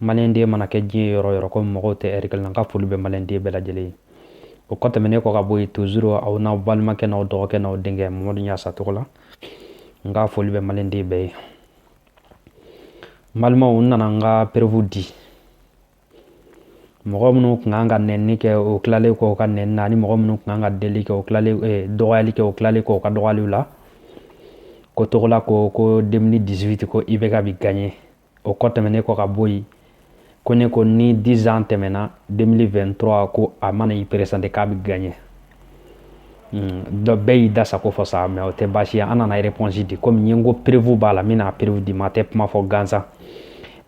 maliyɛnden mana kɛ diɲɛ yɔrɔ yɔrɔ ko mɔgɔw tɛ ɛri kelen na n ka foli bɛ maliyɛnden bɛɛ lajɛlen ye o kɔ tɛmɛnen kɔ ka bɔ yen tozuru aw n'aw balimakɛ n'aw dɔgɔkɛ n'aw denkɛ mamadu ɲasa togola n ka foli bɛ maliyɛnden bɛɛ ye balimaw n nana n ka perewu di mɔgɔ minnu tun kan ka nɛni kɛ o tilalen kɔ u ka nɛni na ani mɔgɔ minnu tun kan ka deli kɛ o tilalen eh, dɔgɔyali kɛ o tilalen kɔ u ka dɔgɔyaliw la ko togola ko ko 2018 ko IBK bɛ gaɲɛ o kɔ tɛmɛnen kɔ ka bɔ yen ko ne ko ni dizan tɛmɛna 2023 ko a mana i peresante k'a bɛ gagné hmm, dɔ bɛɛ y'i da sago fɔ sa mɛ o tɛ baasi ye an nana réponse di komi n ye n ko perevu b'a la n bɛna perevu di maa tɛ kuma fɔ gansan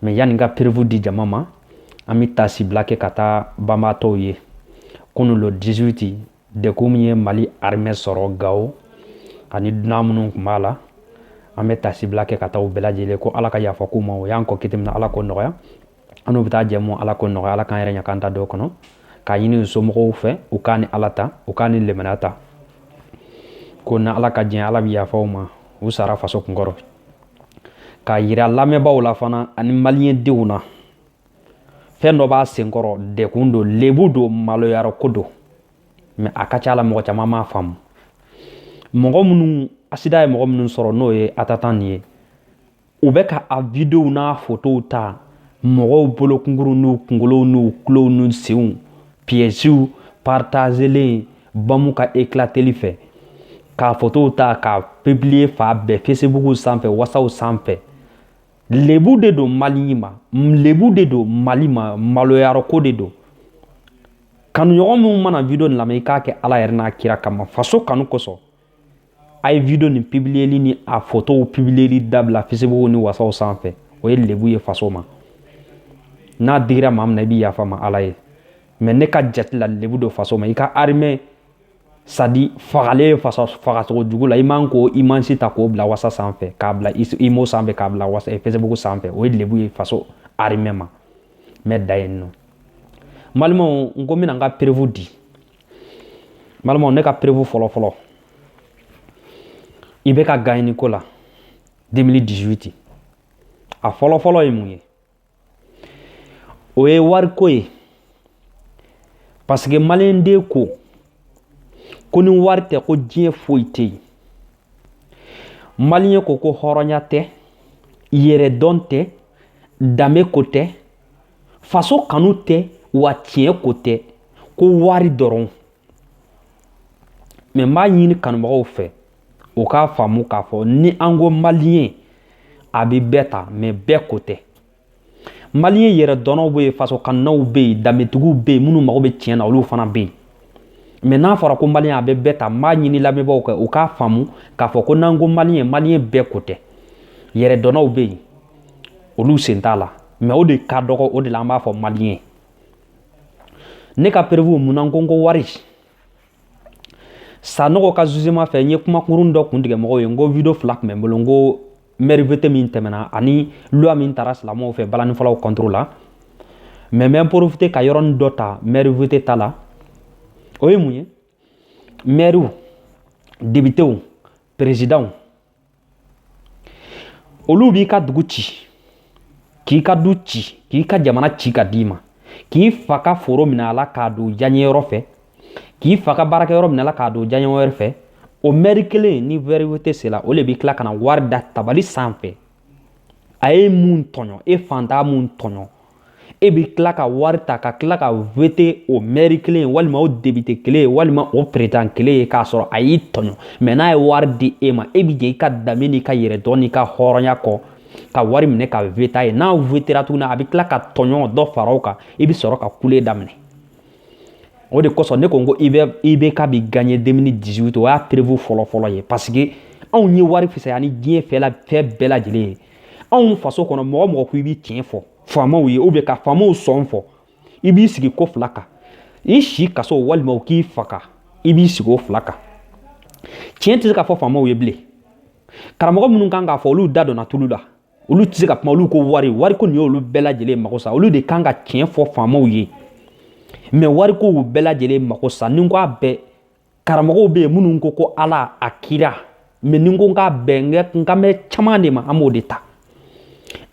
mɛ yanni n ka perevu di jama ma an bɛ taasibila kɛ ka taa banbaatɔw ye kunu le 18 Degun min ye mali arimɛ sɔrɔ gawo ani dunan minnu tun b'a la an bɛ taasibila kɛ ka taa u bɛɛ lajɛlen ko ala ka yafa k'u ma u y'an kɔn kiti min na ala k'o nɔgɔya an n'u bɛ taa jɛ ala k'o nɔgɔya ala k'an yɛrɛ ɲɛ' da dɔ kɔnɔ k'a ɲini u somɔgɔw fɛ u k' ni ala ta u ka limaniya ta ko n'ala ka diɲɛ ala bɛ yafa u ma u sara faso kun kɔrɔ k'a yira lamɛnbaa la fana ani maliyɛndenw na fɛn dɔ b'a senkɔrɔ degun don lebu don maloyarɔko don mɛ a ka ca la mɔgɔ caman m'a faamu mɔgɔ minnu asidan ye mɔgɔ minnu sɔrɔ n'o ye atanta nin ye u bɛ ka a videow n'a fotow ta mɔgɔw bolo kunkurunw n'u kunkolow n'u tulow n'u senw piyɛsiw partazelen bɔmu ka eklateli fɛ k'a fotow ta k'a publiye fan bɛɛ fesibuku sanfɛ wasaw sanfɛ lebu de don mali ma lebu de don mali ma maloyarɔko de don kanuɲɔgɔn minnu mana video nin lamɛn i k'a kɛ ala yɛrɛ n'a kira kama faso kanu kosɔn a ye video nin pibiliyeli ni a fotow pibiliyeli dabila fisibugu ni wasaw sanfɛ o ye lebu ye faso ma n'a digira maa min na i bɛ yafa n ma ala ye mɛ ne ka jate la lebu don faso ma i ka arimɛ sadi fagalen fasa fagacogo jugu la i man k'o imazi ta k'o bila wasa sanfɛ k'a bila imo sanfɛ k'a bila wasa eh, facebook sanfɛ o ye lebu ye faso arimɛ ma n bɛ dan yen nɔ balimaw n ko n bɛna n ka perewu di balimaw ne ka perewu fɔlɔ fɔlɔ IBK gaɲɛni ko la 2018 a fɔlɔ fɔlɔ ye mun ye O ye wariko ye parce que maliyɛnden ko ko ni wari tɛ ko diɲɛ foyi tɛ yen maliyɛn ko ko hɔrɔnya tɛ yɛrɛdɔn tɛ danbe ko tɛ faso kanu tɛ wa tiɲɛ ko tɛ ko wari dɔrɔn Mɛ n b'a ɲini kanubagaw fɛ u k'a faamu k'a fɔ ni an ko maliyɛn a bɛ bɛɛ ta mɛ bɛɛ ko tɛ maliyɛn yɛrɛdɔnnaw bɛ yen faso kanunaw bɛ yen danbetigiw bɛ yen minnu mago bɛ tiɲɛ na olu fana bɛ yen mɛ n'a fɔra ko maliyɛn a bɛ bɛɛ ta n b'a ɲini lamɛnbagaw fɛ u k'a faamu k'a fɔ ko n'an ko maliyɛn maliyɛn bɛɛ ko tɛ yɛrɛdɔnnaw bɛ yen olu sen t'a la mɛ o de ka dɔgɔ o de la an b'a fɔ maliyɛn ne ka perewu mun na n ko n ko wari sanɔgɔ ka zuzema fɛ n ye kumakurun dɔ kun tigɛ mɔgɔw ye n ko video fila tun bɛ n bolo n ko mɛri wete min tɛmɛna ani loi min tara silamɛw fɛ balanifɔlaw kɔntoro la mɛ n bɛ porofite ka yɔrɔnin dɔ ta mɛri wete ta la o ye mun ye mɛriw debitew perezidanw olu b'i ka dugu ci k'i ka du ci k'i ka jamana ci ka d'i ma k'i fa ka foro minɛ a la k'a don diyaɲɛyɔrɔ fɛ k'i fa ka baarakɛyɔrɔ minɛ a la k'a don diyaɲɛ wɛrɛ fɛ o mɛri kelen ni mɛri wete sela o le b'i tila ka na wari da tabali sanfɛ a ye mun tɔɲɔ e faantan mun tɔɲɔ e bɛ tila ka wari ta ka tila ka wete o mɛri kelen walima o debite kelen walima o perezidan kelen ye k'a sɔrɔ a y'i tɔɲɔ mɛ n'a ye wari di e ma e bɛ jɛn i ka danbe n'i ka yɛrɛdɔn n'i ka hɔrɔnya kɔ ka wari minɛ ka wete a ye n'a wetera tuguni a bɛ tila ka tɔɲɔ dɔ fara o kan i bɛ sɔrɔ ka kule daminɛ o de kosɔn ne ko n ko IBK bi ganye deux mille dix-huit o y'a perebu fɔlɔfɔlɔ ye paseke anw ye wari fisaya ni diɲɛ fɛn bɛɛ lajɛlen ye anw faso kɔnɔ mɔgɔ mɔgɔ ko i bɛ tiɲɛ fɔ faamaw ye ubiyɛn ka faamaw sɔn fɔ i b'i sigi ko fila kan i si kaso walima u k'i faga i b'i sigi o fila kan tiɲɛ tɛ se ka fɔ faamaw ye bilen karamɔgɔ minnu kan k'a fɔ olu da donna tulu la olu tɛ se ka kuma olu ko wari wariko nin y'olu bɛɛ lajɛlen mako sa olu de kan ka tiɲɛ fɔ faamaw ye mɛ wariko y'u bɛɛ lajɛlen mako sa ni n ko a bɛɛ karamɔgɔw bɛ yen minnu ko ko ala a kira mɛ ni n ko n k'a bɛɛ n kan bɛ caman de ma an b'o de ta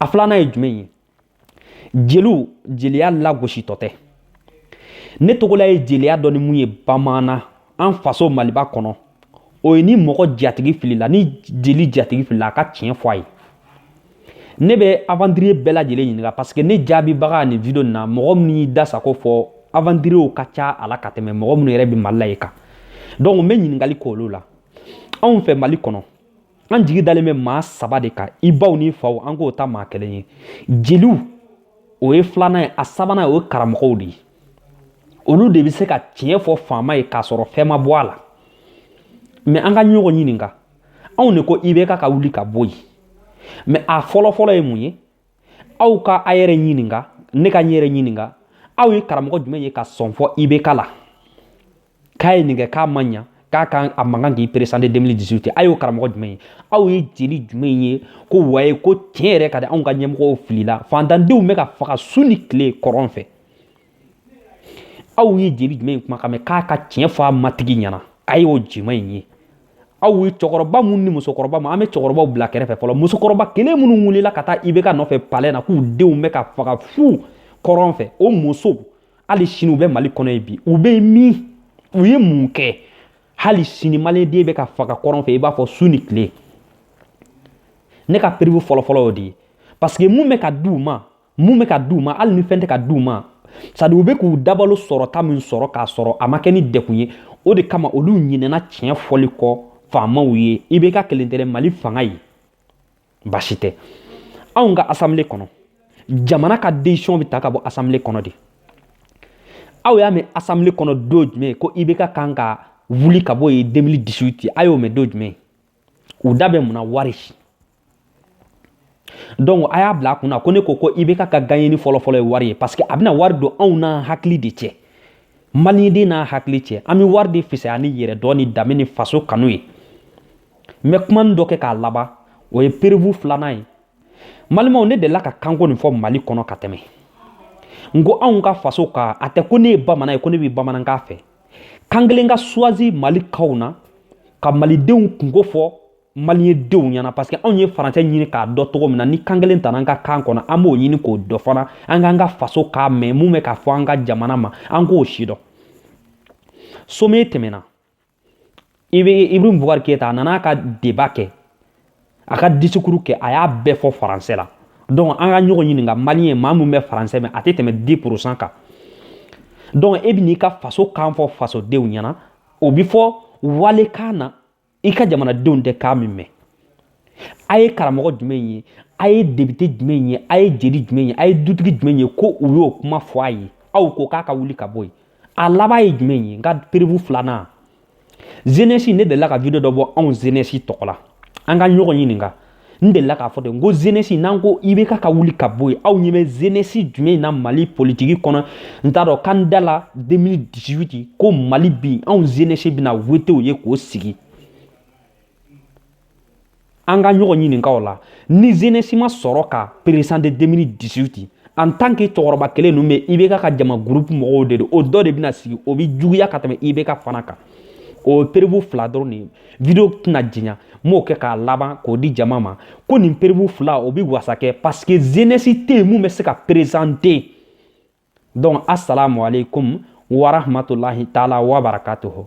a filanan ye jumɛn ye jeliw jeliya lagositɔ tɛ ne togola ye jeliya dɔn ni mun ye bamaana an faso maliba kɔnɔ o ye ni mɔgɔ jatigi filila ni jeli jatigi filila a ka tiɲɛ fɔ a ye ne bɛ aventurier bɛɛ lajɛlen ɲininka parce que ne jaabibaga nin video nin na mɔgɔ min y'i da sago fɔ aventuriers ka ca a la ka tɛmɛ mɔgɔ minnu yɛrɛ bɛ mali la yen kan donc n bɛ ɲininkali k'olu la anw fɛ mali kɔnɔ an jigi dalen bɛ maa saba de kan i baw ni faw an k'o ta maa kelen ye jeliw o ye filanan ye a sabanan o ye karamɔgɔw de ye olu de bɛ se ka tiɲɛ fɔ faama ye k'a sɔrɔ fɛn ma bɔ a la mɛ an ka ɲɔgɔn ɲininka anw de ko IBK ka wuli ka bɔ yen mɛ a fɔlɔfɔlɔ ye mun ye aw ka a yɛrɛ ɲininka ne ka n yɛrɛ ɲininka aw ye karamɔgɔ jumɛn ye ka sɔn fɔ IBK la k'a ye nin kɛ k'a ma ɲa k'a kan a man kan k'i peresante 2018 a y'o karamɔgɔ jumɛn ye aw ye jeli jumɛn ye ko waye ko tiɲɛ yɛrɛ ka di anw ka ɲɛmɔgɔw filila fantandenw bɛ ka faga su ni tile kɔrɔn fɛ aw ye jeli jumɛn kumakan mɛn k'a ka tiɲɛ fɔ a matigi ɲɛna a y'o jumɛn ye aw ye cɛkɔrɔba minnu ni musokɔrɔba ma an bɛ cɛkɔrɔbaw bila kɛrɛfɛ fɔlɔ musokɔrɔba kelen minnu wulila ka taa IBK nɔfɛ palɛ na k'u denw bɛ ka faga fu kɔrɔn fɛ o musow hali sini u bɛ mali kɔnɔ ye bi u bɛ min u ye mun kɛ hali sini maliden bɛ ka faga kɔrɔn fɛ i b'a fɔ su ni tile ne ka perewu fɔlɔfɔlɔ y'o de ye paseke mun bɛ ka di u ma mun bɛ ka di u ma hali ni fɛn tɛ ka di u ma sadi u bɛ k'u dabalo sɔrɔta min sɔrɔ k'a sɔrɔ a ma kɛ ni degun ye o de kama olu ɲinɛna tiɲɛ fɔli kɔ faamaw ye IBK kelen tɛ dɛ mali fanga ye basi tɛ anw ka asamble kɔnɔ jamana ka desiziyɔn bɛ ta ka bɔ asamble kɔnɔ de aw y'a mɛn asamble kɔnɔ don jumɛn ko IBK kan ka wuli ka bɔ yen 2018 a y'o mɛn don jumɛn u da bɛ mun na wari donc a y'a bila a kunna ko ne ko ko IBK ka gaɲɛni fɔlɔfɔlɔ ye wari ye parce que a bɛna wari don anw n'an hakili de cɛ maliyɛnden n'a hakili cɛ an bɛ wari de fisaya ni yɛrɛdɔn ni danbe ni faso kanu ye n bɛ kumani dɔ kɛ k'a laban o ye perewu filanan ye malimaw ne delila ka kanko nin fɔ mali kɔnɔ ka tɛmɛ n ko anw ka faso kan a tɛ ko ne ye bamanan ye ko ne bɛ bamanankan fɛ kan kelen ka suwazi mali kanw na ka malidenw kunko fɔ maliyɛndenw ɲɛna parce que anw ye faransɛ ɲini k'a dɔn cogo min na ni kan kelen tana an ka kan kɔnɔ an b'o ɲini k'o dɔn fana an k'an ka faso kan mɛn mun bɛ ka fɔ an ka jamana ma an k'o sidɔn sɔmɛ tɛmɛna IB ibrahim bubakari keyita a nana a ka deba kɛ a ka disikuru kɛ a y'a bɛɛ fɔ faransɛ la donc an ka ɲɔgɔn ɲininka maliyɛn maa min bɛ faransɛ mɛn a tɛ tɛmɛ di purusan kan donc e bɛn'i ka faso kan fɔ fasodenw ɲɛna o bɛ fɔ walikan na i ka jamanadenw tɛ kan min mɛn a ye karamɔgɔ jumɛn ye a ye depite jumɛn ye a ye jeli jumɛn ye a ye dutigi jumɛn ye ko u y'o kuma fɔ a ye aw ko k'a ka wuli ka bɔ yen a laban ye jumɛn ye n ka perewu filanan zenɛsi ne delila ka video dɔ bɔ anw zenɛsi tɔgɔ la an ka ɲɔgɔn ɲininka n delila k'a fɔ ten ko zenɛsi n'an ko IBK ka wuli ka bɔ yen aw ɲɛ bɛ zenɛsi jumɛn na mali politiki kɔnɔ n t'a dɔn kan da la 2018 ko mali bi anw zenɛsi bɛna wote o ye k'o sigi an ka ɲɔgɔn ɲininka o la ni zenɛsi ma sɔrɔ ka perezante 2018 en tant que cɛkɔrɔba kelen ninnu bɛ ibk ka jama gurupu mɔgɔw de don o dɔ de bɛna sigi o bɛ juguya ka tɛmɛ ibk fana kan o ye perebu fila dɔrɔn de ye video tɛna janya n b'o kɛ k'a laban k'o di jama ma ko nin perebu fila o bɛ wasa kɛ parce que zenɛsi tɛ yen mun bɛ se ka perezante donc asalamu aleykum warahmatulahi taala wabarakatuhu